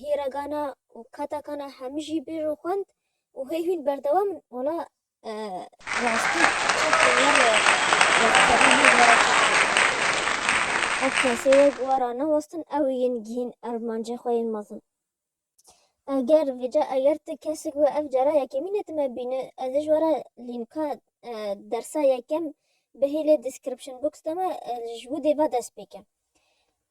hîregana û katakana hemî jî bêj û xwend û hê hûn berdewam in. Wala rastî ev kesê wek wara newestin ew ê yên gihîn ermancê xwe yên mezin. Eger vêca eger tu kesik we ev cara yekemîn e tu me bîne ez ê ji wara lînka dersa yekem bihêle description box de me ji widê ve dest pê ke.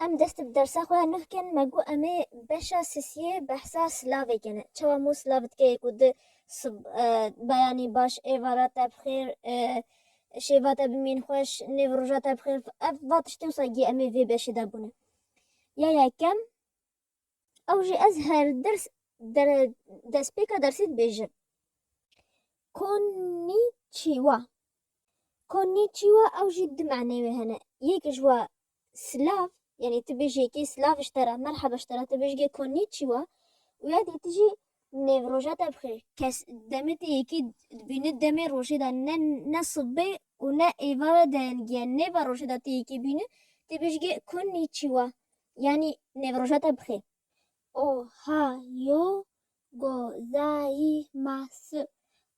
Em dest bi dersa xwe ya nuh kin, me got em ê beşa sisiyê behsa silavê kene. Çawa mû silav dike yê ku di sib, beyanî, baş, êvara te bi xêr, şêva te bimîn xweş, nêv roja te bi xêr, ev va tiştê wisa giya em ê vê beşê de bûne. Ya yekem. Ew jî ez her ders destpêka dersê dibêjim. Konnichiwa. Konnichiwa ew jî di manê wê hene. Yek ji we silav yanî tu bêjî yekê silav ji te re merheba ji te re tu bêjî konnichiwa û ya dê tu jî nêv roja te bixê. Kes demê te yekê dibîne demê rojê de ne ne sibê û ne êvar e deyengiye nêva rojê de tu yekê bîne tu bêjî konnichiwa. Yanî nêv roja te bi xêr. Ohayo gozaimasu.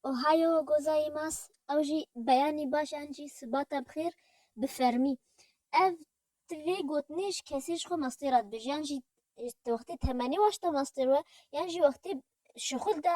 Ohayo gozaimasu ew jî beyanî baş yan jî siba te bi xêr bi fermî. Ev tu vê gotinê ji kesê ji xwe mastê re dibêjî yan jî wextê temenê waşta mastê re yan jî wextê şixul de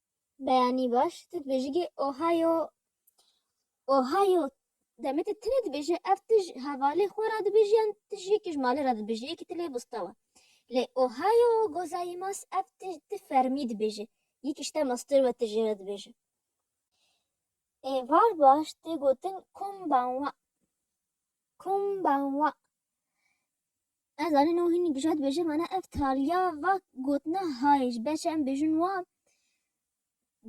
beyanî baş tu dibêjî gê Ohio Ohio demê te tune dibêje ev tu ji hevalê xwe re dibêjî yan tu ji yekê ji malê re dibêjî yekî tu lê bista we. Lê Ohio gozaimas ev tu tu fermî dibêje yekî ji te master we tu jê re dibêje. Êvar baş tê gotin combawa. Kombawa. Ez anî no hînî bije dibêje mana ev taliya va gotina hayê ji ber çi em bêjin wa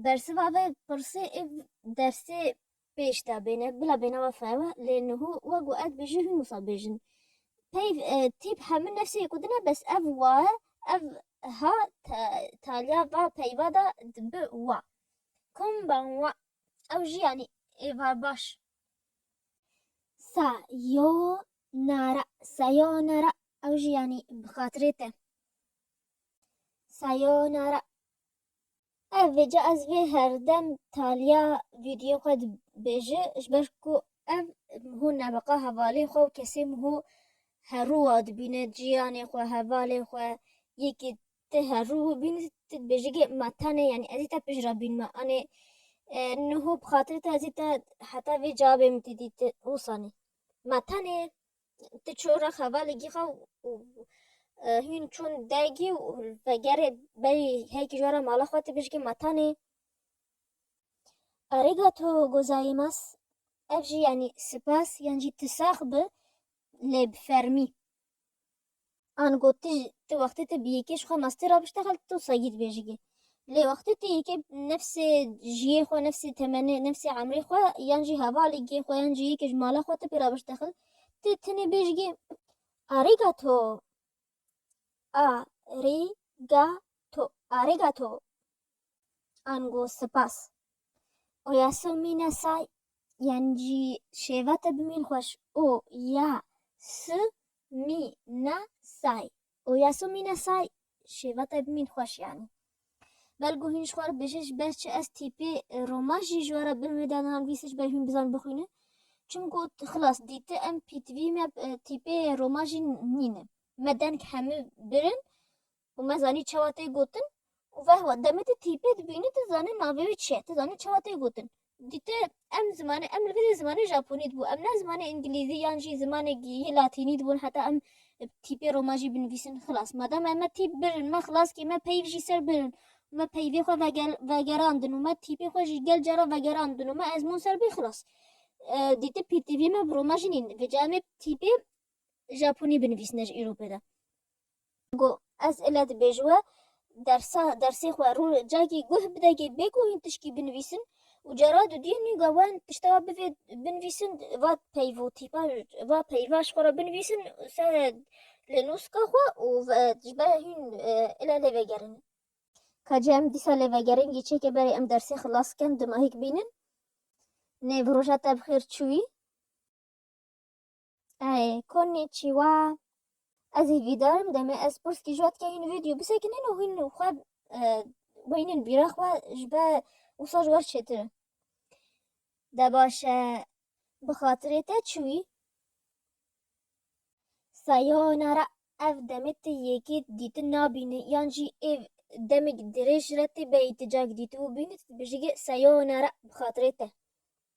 bersiva vê pirsê ê dersê pêş de bêne bila bênava fewa lê niho wek û ez bêje hîn wisa bêjin. Peyv tîp hemû nefsê ku din e bes ev wa e ev ha taliya va peyva de dibi wa. Kombawa. Ew jî anî êvar baş. Sa yo nara sa yo nara ew jî yanî bi xatirê te. Sa yo nara ev vê ca ez vê herdem taliya vîdyoyê xwe dibêje ji ber ku ev hûn nebeqa hevalê xwe û kesê min hû herûwa dibîne ciyanê xwe hevalê xwe yekê Ti her rû û bînî ti dibêjî ke ma tenê yanî ez ê te pêş re bînime anê niho bi xatirê te ez ê te heta vê cavê min tê dî ti wisa nî ma tenê ti çû re xevalê gîxa û hûn çûn dergî û vegerê berî herkî ji we re mala xwe ti bêjî ke ma tenê Arigato gozaimasu ev jî yanî sipas yan jî ti sax bi lê bi fermî. An got tu ji tu wextê tu bi yekê ji xwe mastê re biştexil tu tê wisa yî dibêjî ki lê wextê tu yekê nefsê jiyê xwe nefsê temenê nefsê emrê xwe yan jî hevalê gê xwe yan jî yekê ji mala xwe tu pê re biştexil tu tenê bêjî ki Arigato Arigato Arigato Ango sipas. O ya so mîne say yan jî şêva te bi mîn xweş O ya su mî ne say O ya so mîne say şêva te bi mîn xweş yanî. Bel ku hîn ji xwe re bêje ji ber çi ez tîpê Roma jî ji we re bin wê de niha nivîse ji ber hîn bizan bixwîne. Çimku xilas dîti em pîtvî me tîpê Roma jî nîne. Me deng hemû birin û me zanî çawa tê gotin û vehwa demê tu tîpê dibînî tu zanî navê wî çi ye, tu zanî çawa tê gotin. Dîte em zimanê em li vir dê zimanê Japonî dibû em ne zimanê Îngilîzî yan jî zimanêk yê Latînî dibûn heta em bi tîpê roman jî binivîsin xilas. Madem em me tîp birin me xilas kê me peyv jî ser birin û me peyvê xwe vegel vegerandin û me tîpê xwe jî gel cara vegerandin û me ezmûn ser bî xilas. Dîte pîrtîvî me bi roman jî nîn vêca em ê bi tîpê Japonî binivîsine ji îro pê de. Got, Ez île dibêj we dersa dersê xwe rû cagî guh bide gê bê ku hîn tişkî binivîsin û cara dudiyê nûga wan tişta wa bivê binivîsin va peyvo tîpa va peyva ji xwe re binivîsin ser li nûska xwe û ji ber hîn île lê vegerinin. Ka cî em dîsa lê vegerin gî çêke berê em dersê xilas bikin dimahîk bînin nê bi roja te bi xêr çûyî. Ay, konnichiwa. Ez hêvîdarim demê ez pirskî ji we dike hîn vîdyo bisekinin û hîn xwe weynin bîra xwe ji be wisa ji wer çêtir in. De baş e bi xatirê te çi wî? Sayonara ev demê te yekê dîtin nabîni yan jî êv demêk dirêj re tê beyî ti cak dîtibû bînit dibêjî sayonara bi xatirê te.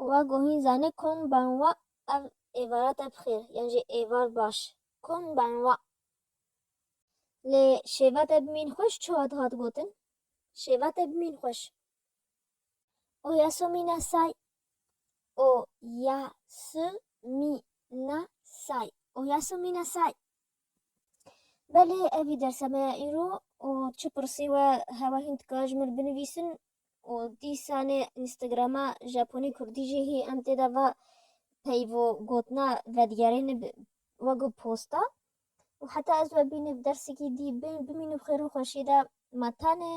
û wa guhîn zanî Kun ben wa ev êvara te bi xêr yan jî êvar baş Kun ben wa. Lê şêva te bi mîn xweş çawa dihat gotin? Şêva te bi mîn xweş. O ya su mî na say O ya su mî na say O ya su mî na say. Belê ev î dersa me ya îro û çi pirsî we hewa hîn dikare ji min binivîsin û dîsanê Instagrama Japonî Kurdî jî hî em tê de va peyvo gotina vedigerêne bi wego posta û heta ez we bîne bi dersekî dî bimîne bi xêr û xweşî de ma tenê